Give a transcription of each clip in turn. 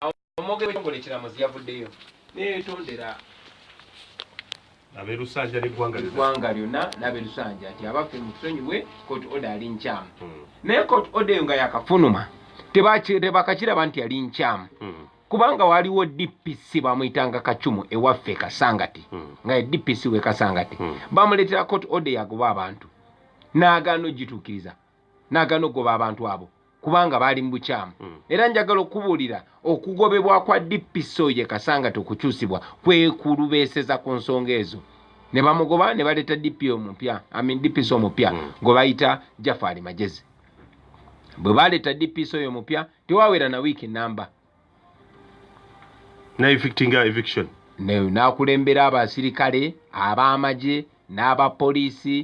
awo omwogere w'ekitongole ekiramuzi yavuddeyo neyetondera abelusanja neggwanga lyonna nabelusanja nti abaffe mutusonyiwe koti oda ali nkyamu hmm. naye koti oda eyo nga yakafunuma tebakakiraba nti yali nkyamu hmm. kubanga waliwo dpc bamuyitanga kacumu ewaffe e kasangati hmm. nga edpc we kasangati bamuleetera koti oda yagoba abantu nagaana ogituukiriza nagaana ogoba abantu abo kubanga baali mu bukyamu mm. era njagala okubuulira okugobebwa kwa dpso ye kasanga tekukyusibwa kwekulubeeseza ku nsonga ezo ne bamugoba ne baleeta dpo omupya amin dpso omupya mm. gwe bayita jafaali magezi bwe baleeta dpso oyo omupya tewawera na wiiki namba na evictinga eviction nakulembera abasirikale ab'amagye n'abapoliisi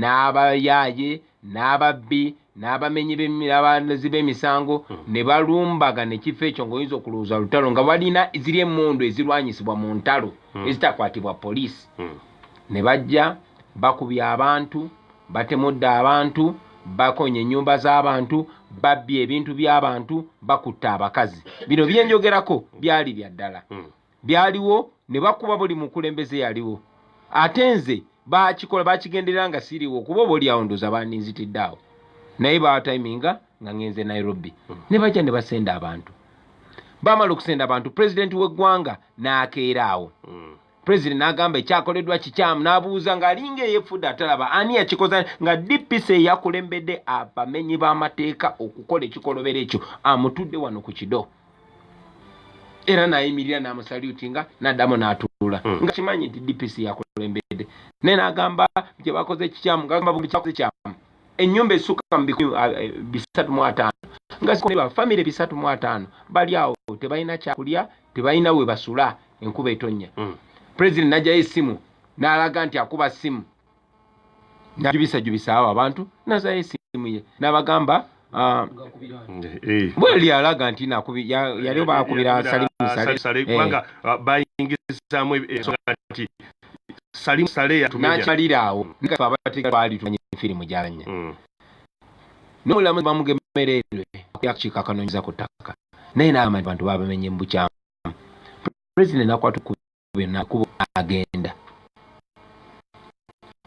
n'abayaaye n'ababbi n'abamenyi b'abazi b'emisango hmm. ne balumbaga nekifo ekyo ngaoyinza okulowooza lutalo nga balina ziri emundu ezirwanyisibwa mu ntalo hmm. ezitakwatibwa poliisi hmm. ne bajja bakubya abantu batemudde abantu bakonye ennyumba z'abantu babbye ebintu by'abantu bakutte abakazi bino byenjogerako byali bya ddala hmm. byaliwo ne bakuba buli mukulembeze yaliwo ate nze bakikola bakigenderera nga siriwo kuba oba olyawo ndoza bandinzitidde awo naye bawatiminga nga ngenze nairobi hmm. ne bajja ne basenda abantu bamala okusenda abantu pulezidenti w'eggwanga n'akeera awo hmm. president n'agamba ekyakoleddwa kikyamu n'abuuza ng'alinga eyefudde atalaba ani yakikoza nga dpc eyakulembedde abamenyi b'amateeka okukola ekikolobero ekyo amutudde wano ku kido era n'ayimirira n'amusaluti nga n'addamu n'atuula hmm. nga kimanyi nti dpc yakulembedde naye n'agamba gye bakoze kikyamu ngagamba buli kyakoze kyamu ennyumba esukka mu bikumi ah, eh, bisatu mu ataano nga zikolebwa famire bisatu mu ataano bali awo tebalina kyakulya tebalina we basula enkuba etonnya mm. president najjayo essimu n'alaga nti akuba ssimu najubisajubisa awo abantu nazayo essimu ye n'abagamba ah, eh. bweli alaga nti yali oba akubira salimusaleubanga ah, ah, bayingizaamu ensonga nti salimusale yatunakyalira awo nafe abatega twali tumanyi firimu gyalanya mm. n'omulamuzi bamugemereerwe yakukiiko akanoonyeza ku ttaka naye n'agamba nti bantu babamenye mu bukyamu pulezidenti nakwata ku byonna kubo agenda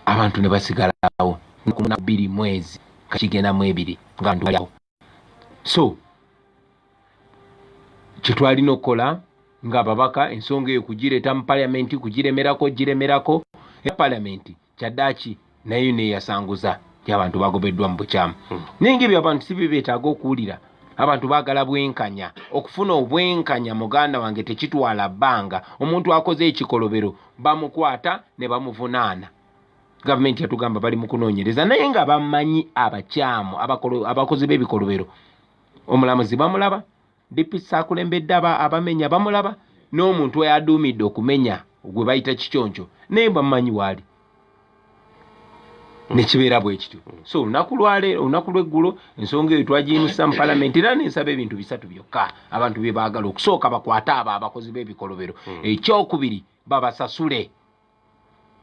abantu ne basigalawo nakumuna bbiri mwezi kakigenda mu ebiri nga bantu baliawo so kyetwalina okukola nga ababaka ensonga eyo kugireeta mu palamenti kugiremerako giremerako era palamenti kyaddaaki naye neyasanguza nti abantu bagobeddwa mu bukyamu hmm. naye nga ebyo abantu si byebeetaaga okuwulira abantu baagala bwenkanya okufuna obwenkanya muganda wange tekitwala bbanga omuntu akoze ekikolobero bamukwata ne bamuvunaana gavumenti yatugamba bali mu kunoonyereza naye nga bamanyi abakyamu abakozi b'ebikolobero omulamuzi bamulaba DPC akulembedde aba abamenya bamulaba n'omuntu eyaduumidde okumenya gwe bayita kiconco naye bamumanyi waali nekibeera bwe kityo so olunaku lwaleero olunaku lweggulo ensonga eyo twagiyimusa mu palamenti era nensaba ebintu bisatu byokka abantu bye baagala okusooka bakwate abo abakozi b'ebikolobero hmm. ekyokubiri babasasule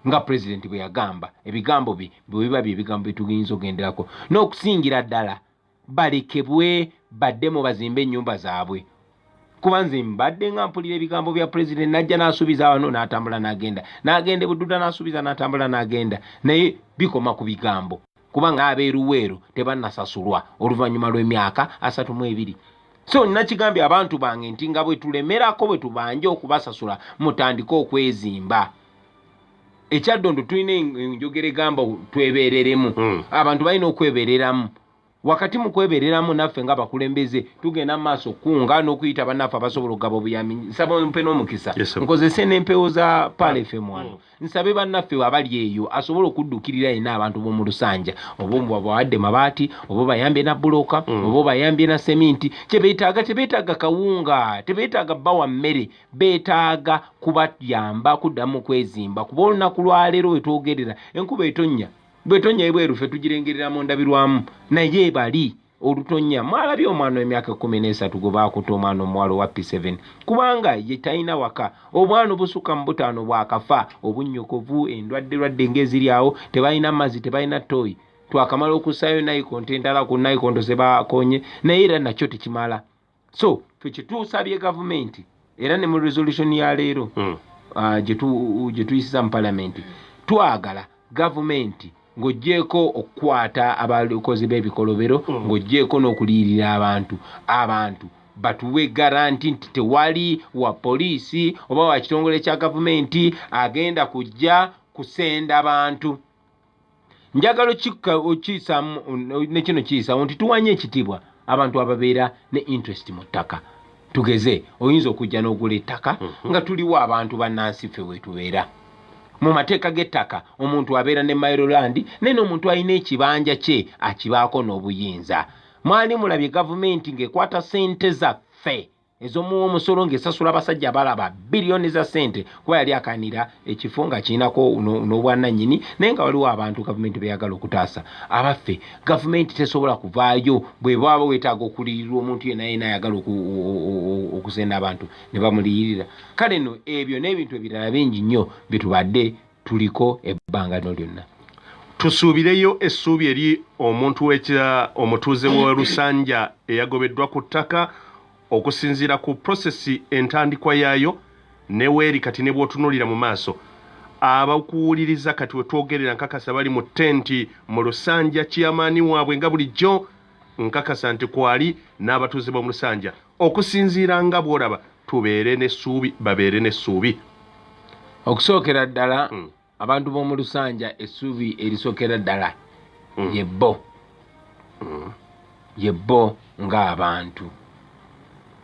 nga pulezidenti bwe yagamba ebigambo bye bwe biba bye bigambo bye tugiyinza okugenderako n'okusingira ddala balekebwe baddemu bazimbe ennyumba zaabwe kuba nze mbadde nga mpulira ebigambo bya pulezidenti najja n'asuubiza wano n'atambula n'agenda n'agenda ebududa n'asuubiza n'atambula n'agenda naye bikoma ku bigambo kubanga abeeruweeru tebannasasulwa oluvannyuma lw'emyaka asatu mu ebiri so nakigambye abantu bange nti nga bwe tulemerako bwe tubanja okubasasula mutandike okwezimba ekyaddondo tulina enjogera egamba twebereremu hmm. abantu balina okwebereramu wakati mu kwebereramu naffe nga bakulembeze tugenda mu maaso kunga n'okuyita bannaffe abasobola okugaba obuyambi nsaba ompe n'omukisa nkozese n'empewo za palefem wano hmm. nsabe bannaffe abali eyo asobola okuddukirira yena abantu b'omu lusanja oba omubabawadde mabaati oba obayambye na buloka hmm. oba obayambye na seminti kyebetaaga tebetaaga kawunga tebetaaga bawa mmere beetaaga kubayamba kuddamu kwezimba kuba olunaku lwaleero wetwogerera enkuba etonnya bwetonya ebweru fe tugirengerera mu ndabirwamu naye ebali olutonya mwalabye omwana wemyaka ekumi nesatu gwe bakuta omwana omuwala owa p7 kubanga ye talina waka obwana obusukka mu butaano bwakafa obunnyokovu endwadde lwadde ngaeziri awo tebalina mazzi tebalina toyi twakamala okusaayo naikonto endala ku naikonto zebakonye naye era nakyo tekimala so tukituusabye gavumenti era ne mu resolution ya leero hmm. ah, gye tuyisiza mu palamenti twagala gavumenti ng'ogyeko okukwata abakozi b'ebikolobero hmm. ng'ogyeko n'okuliyirira abantu abantu batuwe garanti nti tewali wa poliisi oba wa kitongole kya gavumenti agenda kujja kusenda bantu njagala okikka okiyisaamu ne kino kiyisaawo nti tuwanye ekitiibwa abantu ababeera ne interest mu ttaka tugeze oyinza okujja n'ogula ettaka mhm. nga tuliwo abantu bannansi ffe wetubeera mu mateeka g'ettaka omuntu abeera ne mairoland naye n'omuntu alina ekibanja kye akibaako n'obuyinza mwali mulabye gavumenti ng'ekwata sente zaffe ezomuwa omusolo ng'esasula abasajja abalaba biliyoni za ssente kuba yali akanira ekifo nga kirinako n'obwananyini naye nga waliwo abantu gavumenti beyagala okutaasa abaffe gavumenti tesobola kuvaayo bwebwaba wetaaga okuliyirirwa omuntu yena yena ayagala okusenda abantu ne bamuliyirira kale no ebyo n'ebintu ebirala bingi nnyo byetubadde tuliko ebbanga lino lyonna tusuubireyo essuubi eri omuntu wekya omutuuze wa lusanja eyagobeddwa ku ttaka okusinziira ku prosesi entandikwa yaayo neweeri kati ne bwotunuulira mu maaso abakuwuliriza kati wetwogerera nkakasa bali mu tenti mu lusanja kiyamaani waabwe nga bulijjo nkakasa nti kwali n'abatuuze b'omu lusanja okusinziira nga bw'olaba tubeere n'essuubi babeere n'essuubi okusookera ddala hmm. abantu b'omu lusanja essuubi erisookera ddala hmm. ye bbo hmm. ye bbo ng'abantu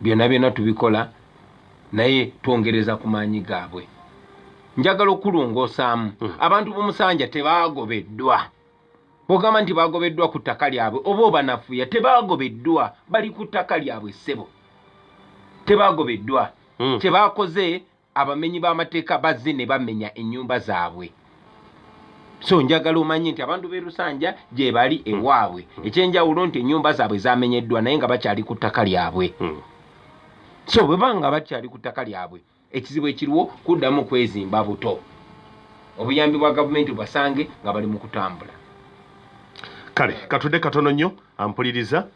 byonna byonna tubikola naye twongereza ku maanyi gaabwe njagala okulongoosaamu abantu b'omusanja tebaagobeddwa bogamba nti bagobeddwa ku ttaka lyabwe oba obanafuya tebagobeddwa bali ku ttaka lyabwe ssebo tebagobeddwa hmm. kyebakoze abamenyi b'amateeka bazze ne bamenya ennyumba zaabwe so njagala omanye nti abantu b'e lusanja gye bali hmm. ewaabwe hmm. ekyenjawulo nti ennyumba zaabwe zamenyeddwa naye nga bakyali ku ttaka lyabwe so bwe banga bakyali ku ttaka lyabwe ekizibu ekiriwo kuddamu kwezimba buto obuyambi bwa gavumenti basange nga bali mu kutambula kale katude katono nnyo ampuliriza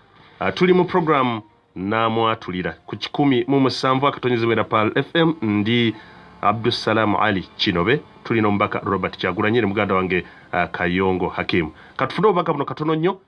ah, tuli mu programu namwatulira ku kikumi mu musanvu akatonyezebwera pal fm ndi abdussalaamu ali kinobe tulina omubaka robert kyagulanyire muganda wange ah, kayongo hakimu katufune obubaka buno katono nnyo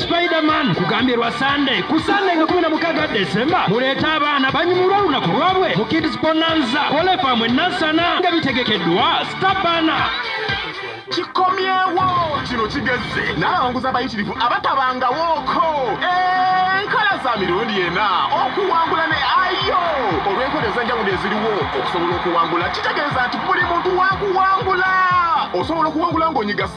Spiderman kugambye lwa Sunday ku Sunday nga 16 December muleete abaana banyumulwa olunaku lwabwe mu Kids Bonanza Kolefamu Nansana nga bitegekeddwa Stabana kikomyewo kino kigezze n'abawanguzi abayitirivu abatabangawooko enkola za mirundi ena okuwangula ne ayo olw'enkola ez'enjawulo eziriwo okusobola okuwangula kitegeeza nti buli muntu wakuwangula osobola okuwangula ng'onyiga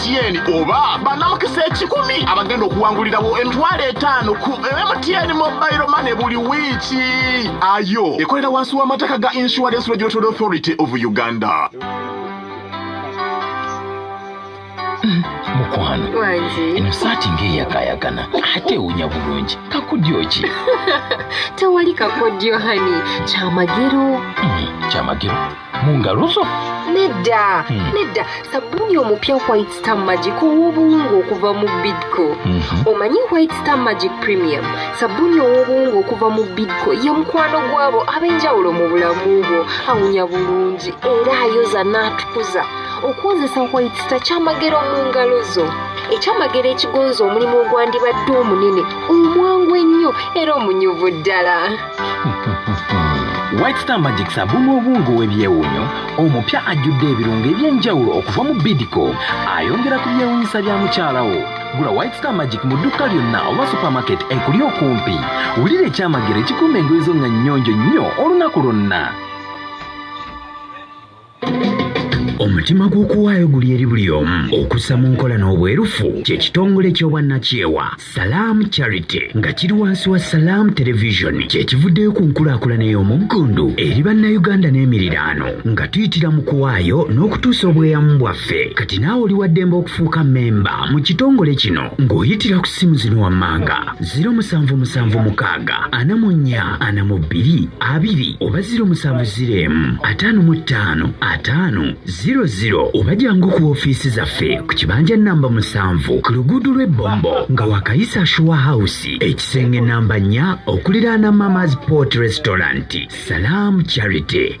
mtn oba banamukisa ekikumi abagenda okuwangulirawo emitwalo etaano ku mtn mobile mane buli wiiki ayo ekolera wansi w'amataka ga insurance regulatory authority of uganda mukwano eno saati ng'eyakayagana ate ewunya bulungi kakodyo ki tewali kakodyo hani kyamagero hmm, kyamagero mu ngalo zo nedda hmm. nedda sabbuuni omupya white star magic ow'obuwungu okuva mu bidco mhm. omanyi white star magic premium sabbuuni ow'obuwungu okuva mu bidco ye mukwano gw'abo ab'enjawulo mu bulamu bwo awunya bulungi era ayoza n'atukuza okuwozesa white star kyamagero mu ngalo zo ekyamagero ekigonza omulimu ogwandibadde omunene omwangu ennyo era omunyuvu ddala White Star Magic sabumu obwungu w'ebyewuunyo omupya ajjudde ebirungo eby'enjawulo okuva mu Bidco ayongera ku byewuunyisa bya mukyalawo gula White Star Magic mu dduuka lyonna oba supermarket ekuli okumpi wulira ekyamagero ekikuuma engoye zo nga nnyonjo nnyo olunaku lwonna omutima gw'okuwaayo guli eri buli omu okussa mu nkola n'obwerufu kye kitongole ky'obwannakyewa salaamu charity nga kiri wansi wa salaamu televisioni kye kivuddeyo ku nkulaakulana ey'omuggundu eri bannayuganda n'emiriraano nga tuyitira mu kuwaayo n'okutuusa obweyamu bwaffe kati naawe oli waddembe okufuuka mmemba mu kitongole kino ng'oyitira ku ssimu zino wammanga ziro musanvu musanvu mukaaga ana mu nnya ana mu bbiri abiri oba ziro musanvu ziro emu ataano mu ttaano ataano ziro ziro oba jangu ku ofiisi zaffe ku kibanja namba musanvu ku luguudo lw'ebbombo nga wakayisa shuwa hawusi ekisenge namba nnya okuliraana mamas port restaurant salaamu charity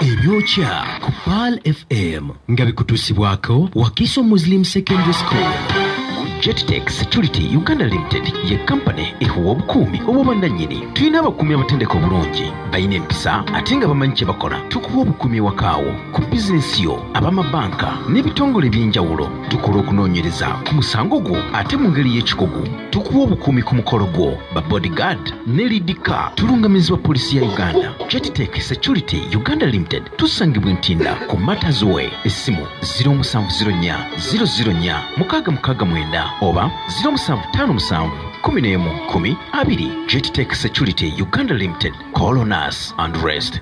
ebyokya ku paal fm nga bikutuusibwako wakiso muslim secondary school jettex security uganda limited ye kampani ehuwa obukuumi obw'obwannannyini tulina abakuumi abatendeka obulungi balina empisa ate nga bamanyi kye bakola tukuwa obukuumi ewakaawo ku bizinensi yo abamabanka n'ebitongole eby'enjawulo tukola okunoonyereza ku musango gwo ate mu ngeri y'ekikugu tukuwa obukuumi ku mukolo gwo ba bodyguard ne lidika tulungamizibwa poliisi ya uganda Creditech Security Uganda Limited tusangibwa Ntinda ku Matters Way essimu 0704 004 mukaaga mukaaga mwenda oba 0757 kumi n'emu kumi abiri Creditech Security Uganda Limited call on us and rest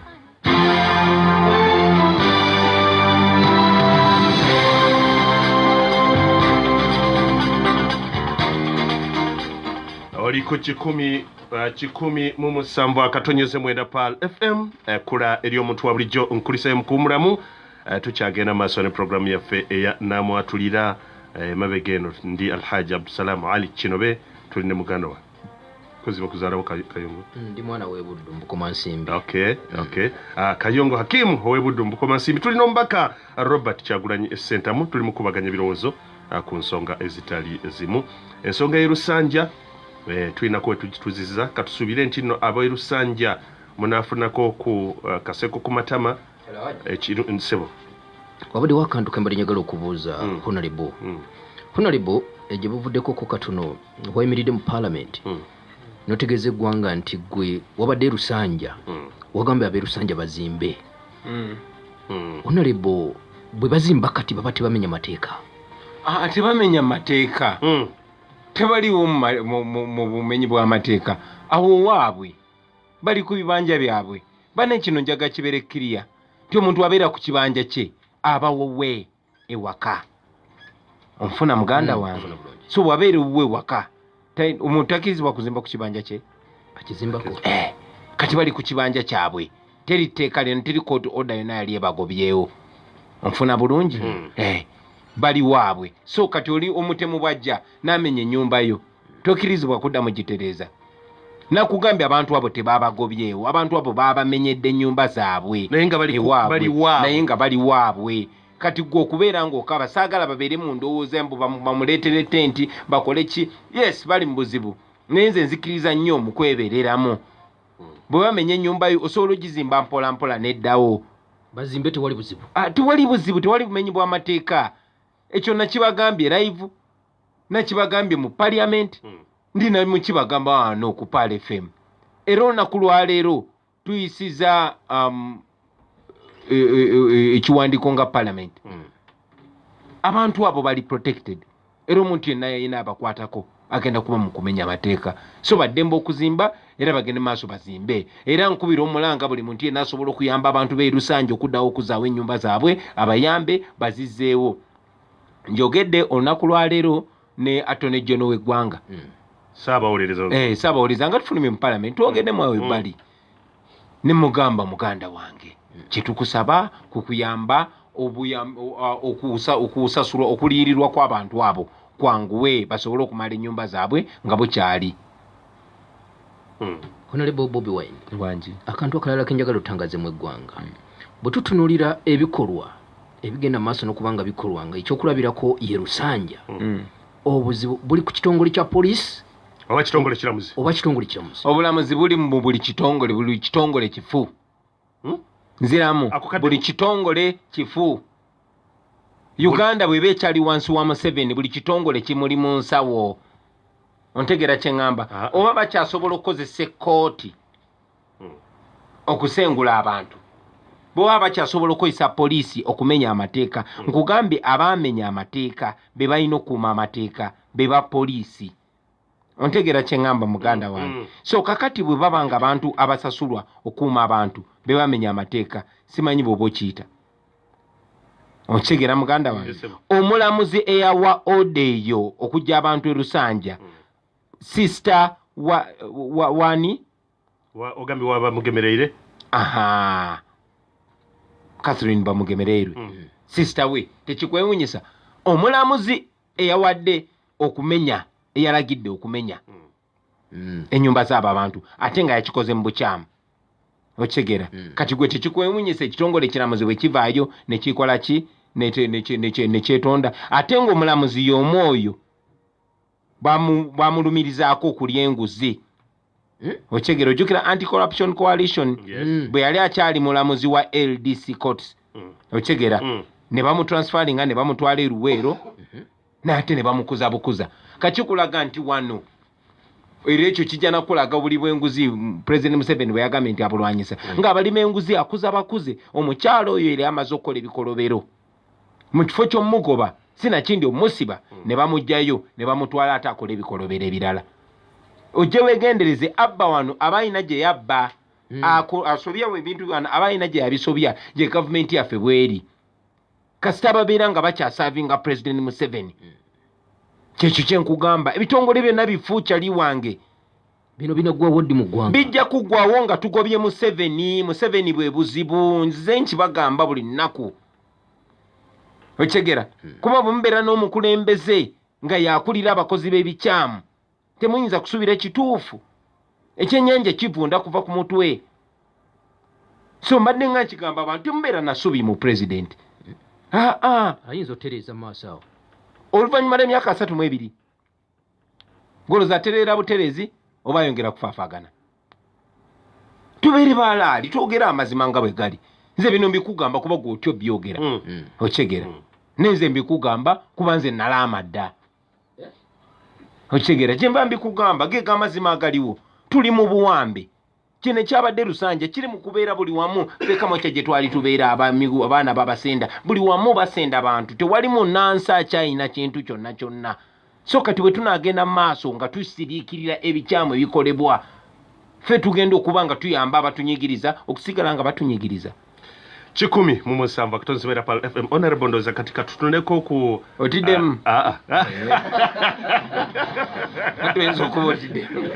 oliko kikumi Uh, kikumi mu musanvu akatonyeze mwenda pal fm ekula uh, eri omuntu wa bulijjo nkulisayo mukuwumulamu uh, tukyagenda maaso ne puroguramu yaffe eya namwatulira emabega eno ndi alhaji abdusalamu ali kinobe tuli ne muganda wa kuziba kuzalawo kayongo mm, ndi mwana webuddu mbukoma nsimbi okay, mm. okay. Uh, kayongo hakimu owebuddu mbukoma nsimbi tuli nomubaka robert kyagulanyi esentamu tuli mukubaganya ebirowoozo uh, ku nsonga ezitali zimu ensonga yerusanja eh, tulinako wetugituziza katusubire nti no abaerusanja munafunako ku uh, kaseko ku matama ekisebo eh, wabadde wakantu kembali njagala okubuuza mm. honalebo mm. honalebo egye eh, buvuddeko ko katono wayimiridde mu palamenti mm. notegeeza eggwanga nti gwe wabadde erusanja mm. wagambye aberusanja bazimbe mm. mm. honalebo bwe bazimba kati baba tebamenya mateeka ah, tebamenya mateeka mm. tebaliwo mu bumenyi bw'amateeka awo waabwe bali ku bibanja byabwe bane kino njaga kibeere kiriya nti omuntu abeera ku kibanja kye abawowe ewaka onfuna muganda hmm, wange so wabeera ewuwe ewaka omuntu takirizibwa kuzimba ku kibanja kye eh, kati bali ku kibanja kyabwe teri tteeka lyona teri kooti oda yona yali ebagobyewo onfuna bulungi hmm. eh, bali waabwe so kati oli omutemu bwajja namenya enyumba yo tokirizibwa kuddamu gitereeza nakugambye abantu abo tebabagobyewo abantu abo babamenyedde enyumba zaabwe naye nga bali waabwe kati gwe okubeera ngaokaba saagala babeere mu ndowooza mbu bamuleetere tenti bakole ki yes bali mu buzibu naye nze nzikiriza nnyo mu kwebereramu hmm. bwe bamenya ennyumba yo osobola ogizimba mpola mpola neddawo bazimbe tewali buzibu ah, tewali buzibu tewali bumenyi bw'amateeka ekyo nakibagambye live nakibagambye mu parliament hmm. ndi namukibagamba wano ku pal fm era olunaku lwaleero tuyisiza um, e, e, e, ekiwandiiko nga parliament mm. abantu abo bali protected era omuntu yenna yayina abakwatako agenda kuba mu kumenya amateeka so baddemba okuzimba era bagende maaso bazimbe era nkubira omulanga buli muntu yenna asobola okuyamba abantu beerusanja okuddawo okuzaawo ennyumba zaabwe abayambe bazizeewo njogedde olunaku lwaleero ne atone jono w'eggwanga mm. saabawolereza eh, nga tufulume mu palamenti twogedde mwawe mm. bali mm. nemugamba muganda wange mm. kyetukusaba kukuyamba okusasulwa okuliyirirwa kwabantu abo kwanguwe basobole okumala enyumba zaabwe nga bukyali mm. honorable bobi wine wangi akantu akalala kenjagala otangazemu eggwanga mm. bwetutunulira ebikolwa ebigenda maaso nokubanga bikolwa nga ekyokulabirako yerusanja obuzibu buli ku kitongole kya poliisi oba kitongole kiramuzi oba kitongole kiramuzi obulamuzi buli mu buli kitongole buli kitongole kifu hmm? nziramu buli kitongole kifu uganda bweba ekyali wansi wa museveni buli kitongole kimuli mu nsawo ontegeera kye ŋŋamba ah. oba bakyasobola okukozesa ekkooti okusengula abantu bwebaba bakyasobola okukozesa poliisi okumenya amateeka nkugambye abaamenya amateeka be balina okuuma amateeka be ba poliisi ontegeera kyeŋŋamba muganda mm, wange mm. so kakati bwe baba nga abantu abasasulwa okuuma abantu be bamenya amateeka simanyi bweoba okiyita okitegeera muganda wange omulamuzi eyawa oda eyo okujja abantu erusanja mm. sisita wani wa, wa, ogambye waba mugemereire aha catherine bamugemereirwe mm. mm. sister we tekikwewunyisa omulamuzi eyawadde okumenya eyalagidde okumenya mm. mm. enyumba zaabo abantu ate nga yakikoze mu bukyamu okitegeera mm. kati gwe tekikwewunyisa ekitongole ekiramuzi bwe kivaayo nekikola ki nekyetonda ate ngaomulamuzi yomu oyo bwamulumirizaako okulya enguzi hmm? okyegera ojjukira anti corruption coalition hmm. bwe yali akyali mulamuzi wa ldc courts hmm. okyegera ne bamutransferinga ne bamutwala eruweero mhm. naate ne bamukuza bukuza kakikulaga nti wano era ekyo kijja nakulaga buli bwenguzi president museveni bwe yagambye nti abulwanyisa ngaabalima enguzi akuza bakuze omukyalo oyo era amaze okukola ebikolobero mu kifo ky'omugoba sinakindi omusiba mm. ne bamugjayo ne bamutwala ate akola ebikolobero ebirala ojje wegendereze abba wano aba alina gye yabba mm. asobyawo ebintu bano aba alina gye yabisobya gye gavumenti yaffe bweri kasita babeera nga bakyasavinga pulezidenti museveni mm. kyekyo kyenkugamba ebitongole byonna bifuukyali wange bino binaggwawo ddi mu ggwanga bijja kuggwawo nga tugobye museveni museveni bwe buzibu nzize nkibagamba buli nnaku okitegera hmm. kuba bwemubeera n'omukulembeze nga yakulira abakozi b'ebikyamu temuyinza kusuubira ekituufu ekyenyanja kivunda kuva ku mutwe so mbadde nga nkigamba abantu temubeera nasubi mu pulezidenti hmm. aa ayinza otereeza maaso awo oluvannyuma lw'emyaka asatu mu ebiri goloza atereera buterezi oba ayongera kufaafagana tubeere balaali twogere amazima nga bwe gali nze bino mbikugamba kuba gwe otyo byogera mm. mm. okitegera mm. nenze mbikugamba kuba nze nalaama dda okitegera gyemba mbikugamba geega amazima agaliwo tuli mu buwambe kino ekyabadde lusanja kiri mu kubeera buli wamu fekamakya gye twali tubeera abamigu abaana babasenda buli wamu basenda bantu tewali munansi akyayina kintu kyonna kyonna so kati bwe tunaagenda mu maaso nga tusiriikirira ebikyamu ebikolebwa ffe tugenda okuba nga tuyamba abatunyigiriza okusigala nga batunyigiriza kikumi mu musanvu akatonzi bera pal fm honorable ndoza kati katutuneko ku otidemu ah, ah, ah. tuyinza okuba otidemu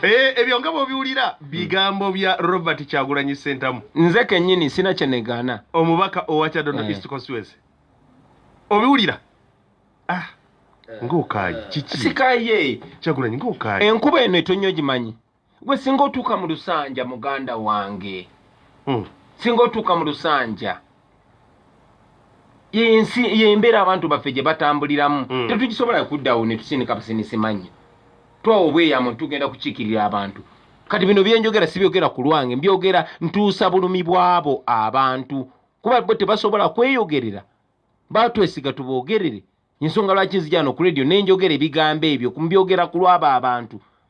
eh, ebyo nga bwobiwulira bigambo bya robert kyagulanyi sentamu nze kenyini sina kyenegaana omubaka owa kyadondo eh. east constituency obiwulira ah eh. ngaokaayi kiki sikaye kyagulanyi ngaokaayi enkuba eno etonyo gimanyi gwe singa otuuka mu lusanja muganda wange hmm. singa otuuka mu lusanja yensi yembeera abantu baffe gye batambuliramu hmm. tetugisobola kuddawo netusindika basinisimanya twawo obweyamu tugenda kukiikirira abantu kati bino byenjogera sibyogera ku lwange mbyogera ntuusa bulumi bwabo abantu kuba bo tebasobola kweyogerera batwesiga tubogerere ensonga lwaki nzijano ku radio nenjogera ebigambo ebyo mbyogera ku lwabo abantu